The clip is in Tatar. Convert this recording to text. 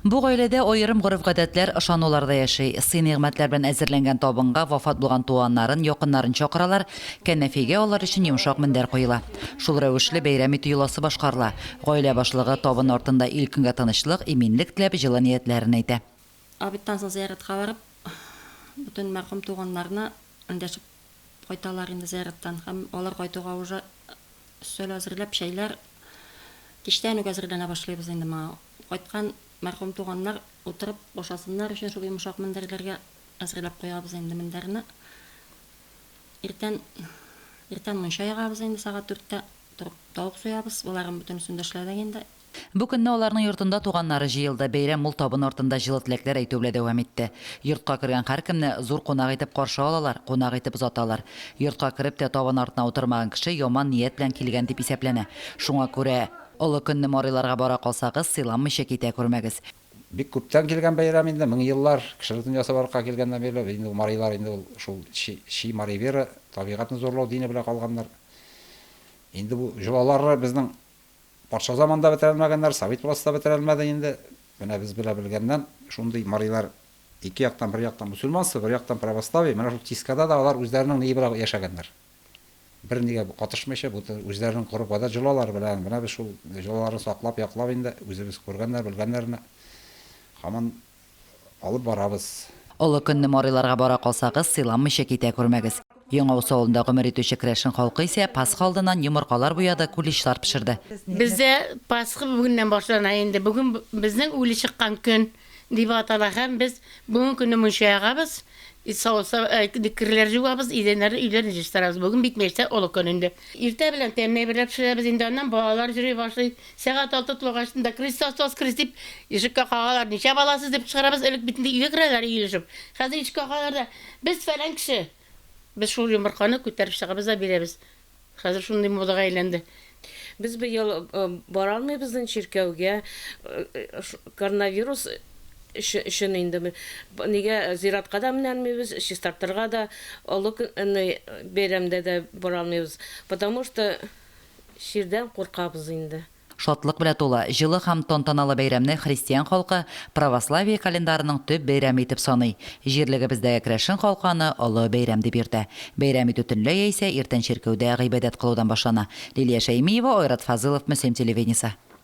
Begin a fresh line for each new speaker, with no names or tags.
Бу гаиләдә аерым гореф-гадәтләр, ышанулар да яши. Сый-нигъмәтләр белән әзерләнгән табынга вафат булган туганнарын, якыннарын чакыралар, кәнәфигә алар өчен йомшак мендәр куела. Шул рәвешле бәйрәм итү йоласы башкарыла. Гаилә башлыгы табын артында ил-көнгә тынычлык, иминлек теләп, җылы ниятләрен әйтә. Обедтан соң
зыяратка барып, бөтен мәрхүм туганнарны эндәшеп кайталар инде зыяраттан һәм алар кайтуга уже өстәл әзерләп, чәйләр кичтән үк әзерләнә башлыйбыз инде моңа. Кайткан мәрхүм туганнар утырып ашасыннар өчен шул йомшак мендәрләргә әзерләп куябыз инде мендәрне. Иртән, иртән мунча ягабыз инде, сәгать дүрттә торып тавык суябыз, боларның бөтенесен дә эшләдек инде. Бу көнне аларның
йортында туганнары җыелды, бәйрәм мул табын артында җылы теләкләр әйтү белән дәвам итте. Йортка кергән һәркемне зур кунак итеп каршы алалар, кунак итеп озаталар. Йортка кереп тә табын артына утырмаган кеше яман ният белән килгән дип исәпләнә. Шуңа күрә. Олы көнне Марыйларга бара калсагыз, сыйламыйча китә күрмәгез. Бик күптән
килгән бәйрәм инде, мең еллар кеше ризын ясап арка килгәннән бирле, инде ул марыйлар инде ул шул чи чи мари вера, табигатьне зурлау дине белән калганнар. Инде бу җолалары безнең патша заманында бетерәлмәгәннәр, совет властьта бетерәлмәде инде. Менә без белә белгәннән шундый марыйлар ике яктан, бер яктан мусульманство, бер яктан православие, менә шул тискада да алар үзләренең ние белән яшәгәннәр. бернигә катышмыйча, бу үзләренең коры гадәт җолалары белән, менә без шул җолаларны саклап, яклап инде, үзебез күргәннәр, белгәннәрне һаман алып барабыз. Олы көнне
Марыйларга бара калсагыз, сыйламыйча китә күрмәгез. Яңавыз авылында гомер итүче керәшен халкы исә Пасха алдыннан йомыркалар буяды, куличлар пешерде. Бездә
Пасха бүгеннән башлана инде. Бүген безнең үле чыккан көн. Дип атала һәм без бүген көне мунча ягабыз, керләр җуабыз, идәннәрне, өйләрне җыштырабыз. Бүген бит мәчтә олы көн инде. Иртә белән тәмле әйберләр пешерәбез, инде аннан балалар җөри башлый. Сәгать алты тулгач шунда Крестос воскрес дип ишеккә кагалар. Ничә баласыз дип кычкырабыз, элек бит инде өйгә керәләр иелешеп. Хәзер ишеккә кагалар да, без фәлән кеше. Без шул йомырканы күтәреп чыгабыз да бирәбез. Хәзер шундый модага әйләнде. Без быел
бара алмыйбыз чиркәүгә. Коронавирус өчен инде нигә зиратка да менә алмыйбыз, чистартырга да, олы бәйрәмдә дә бара алмыйбыз. Потому что чирдән куркабыз инде. Шатлык белә тулы,
җылы һәм тантаналы бәйрәмне христиан халкы православие календарының төп бәйрәме итеп саный. Җирлегебездәге керәшен халкы аны олы бәйрәм дип йөртә. Бәйрәм итү төнлә яисә иртән чиркәүдә гыйбадәт кылудан башлана. Лилия Шәймиева, Айрат Фазылов, Мөслим телевидениесе.